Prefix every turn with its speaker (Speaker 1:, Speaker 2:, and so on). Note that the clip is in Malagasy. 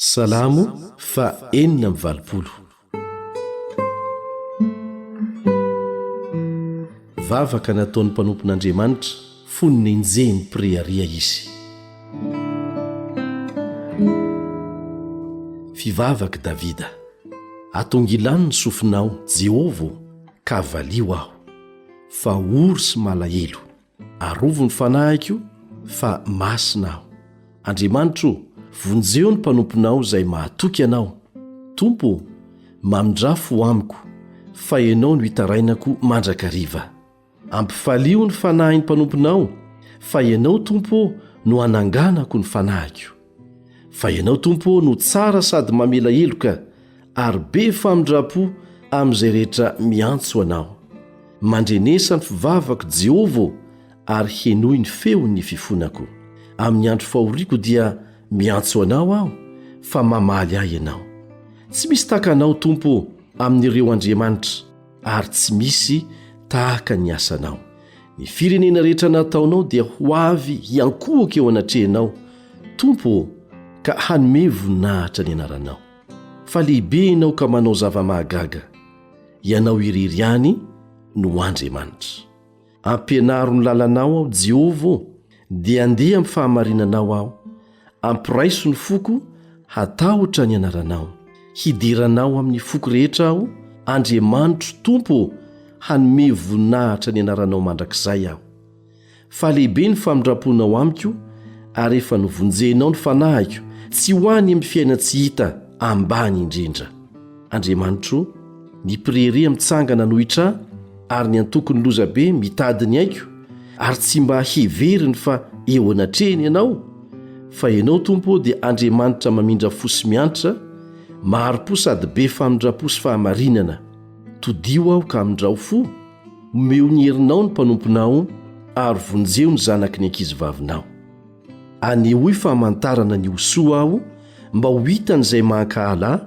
Speaker 1: Salamo faha enina amby valopolo. Vavaka nataon'ny mpanompon'Andriamanitra fony nenjehin'ny mpirehareha izy. Fivavak'i Davida. Atongilano ny sofinao, Jehovah ô, ka valio aho, fa ory sy malahelo. Arovy ny fanahiko fa masina aho. Andriamanitra o, vonjeo ny mpanomponao izay mahatoky anao. Tompo o, mamindrà fo amiko, fa ianao no itarainako mandrakariva. Ampifalio ny fanahin'ny mpanomponao, fa ianao, Tompo ô, no ananganako ny fanahiko. Fa Ianao, Tompo ô, no tsara sady mamela heloka, ary be famindram-po amin'izay rehetra miantso Anao. Mandrenesa ny fivavako, Jehovah ô, ary henoy ny feon'ny fifonako. Amin'ny andro fahoriako dia miantso Anao aho, fa mamaly ahy Ianao. Tsy misy tahaka Anao, Tompo ô, amin'ireo andriamanitra. ary tsy misy tahaka ny asanao ny firenena rehetra nataonao dia ho avy hiankohoka eo anatrehanao tompo ô ka hanome voninahitra ny anaranao fa lehibe ianao ka manao zava-mahagaga ianao irery ihany no andriamanitra Ampianaro ny lalanao aho, Jehovah ô, dia andeha amin'ny fahamarinanao aho. Ampiraiso ny foko hatahotra ny anaranao. Hideranao amin'ny foko rehetra aho, Andriamanitro Tompo ô, hanome voninahitra ny anaranao mandrakizay aho. Fa lehibe ny famindram-ponao amiko, ary efa novonjenao ny fanahiko, tsy ho any amin'ny fiainan-tsy hita ambany indrindra. Andriamanitro, ny mpirehareha mitsangana anohitra ahy ary ny antokon'ny lozabe mitady ny aiko ary tsy mba heveriny fa eo anatrehany ianao, fa ianao Tompo ô dia Andriamanitra mamindra fo sy miantra, mahari-po sady be famindra-po sy fahamarinana. Todiho aho ka amindrao fo, omeo ny herinao ny mpanomponao ary vonjeo ny zanaky ny ankizivavinao. Anehoy famantarana ny ho soa aho mba ho hitan'izay mahankahala ahy,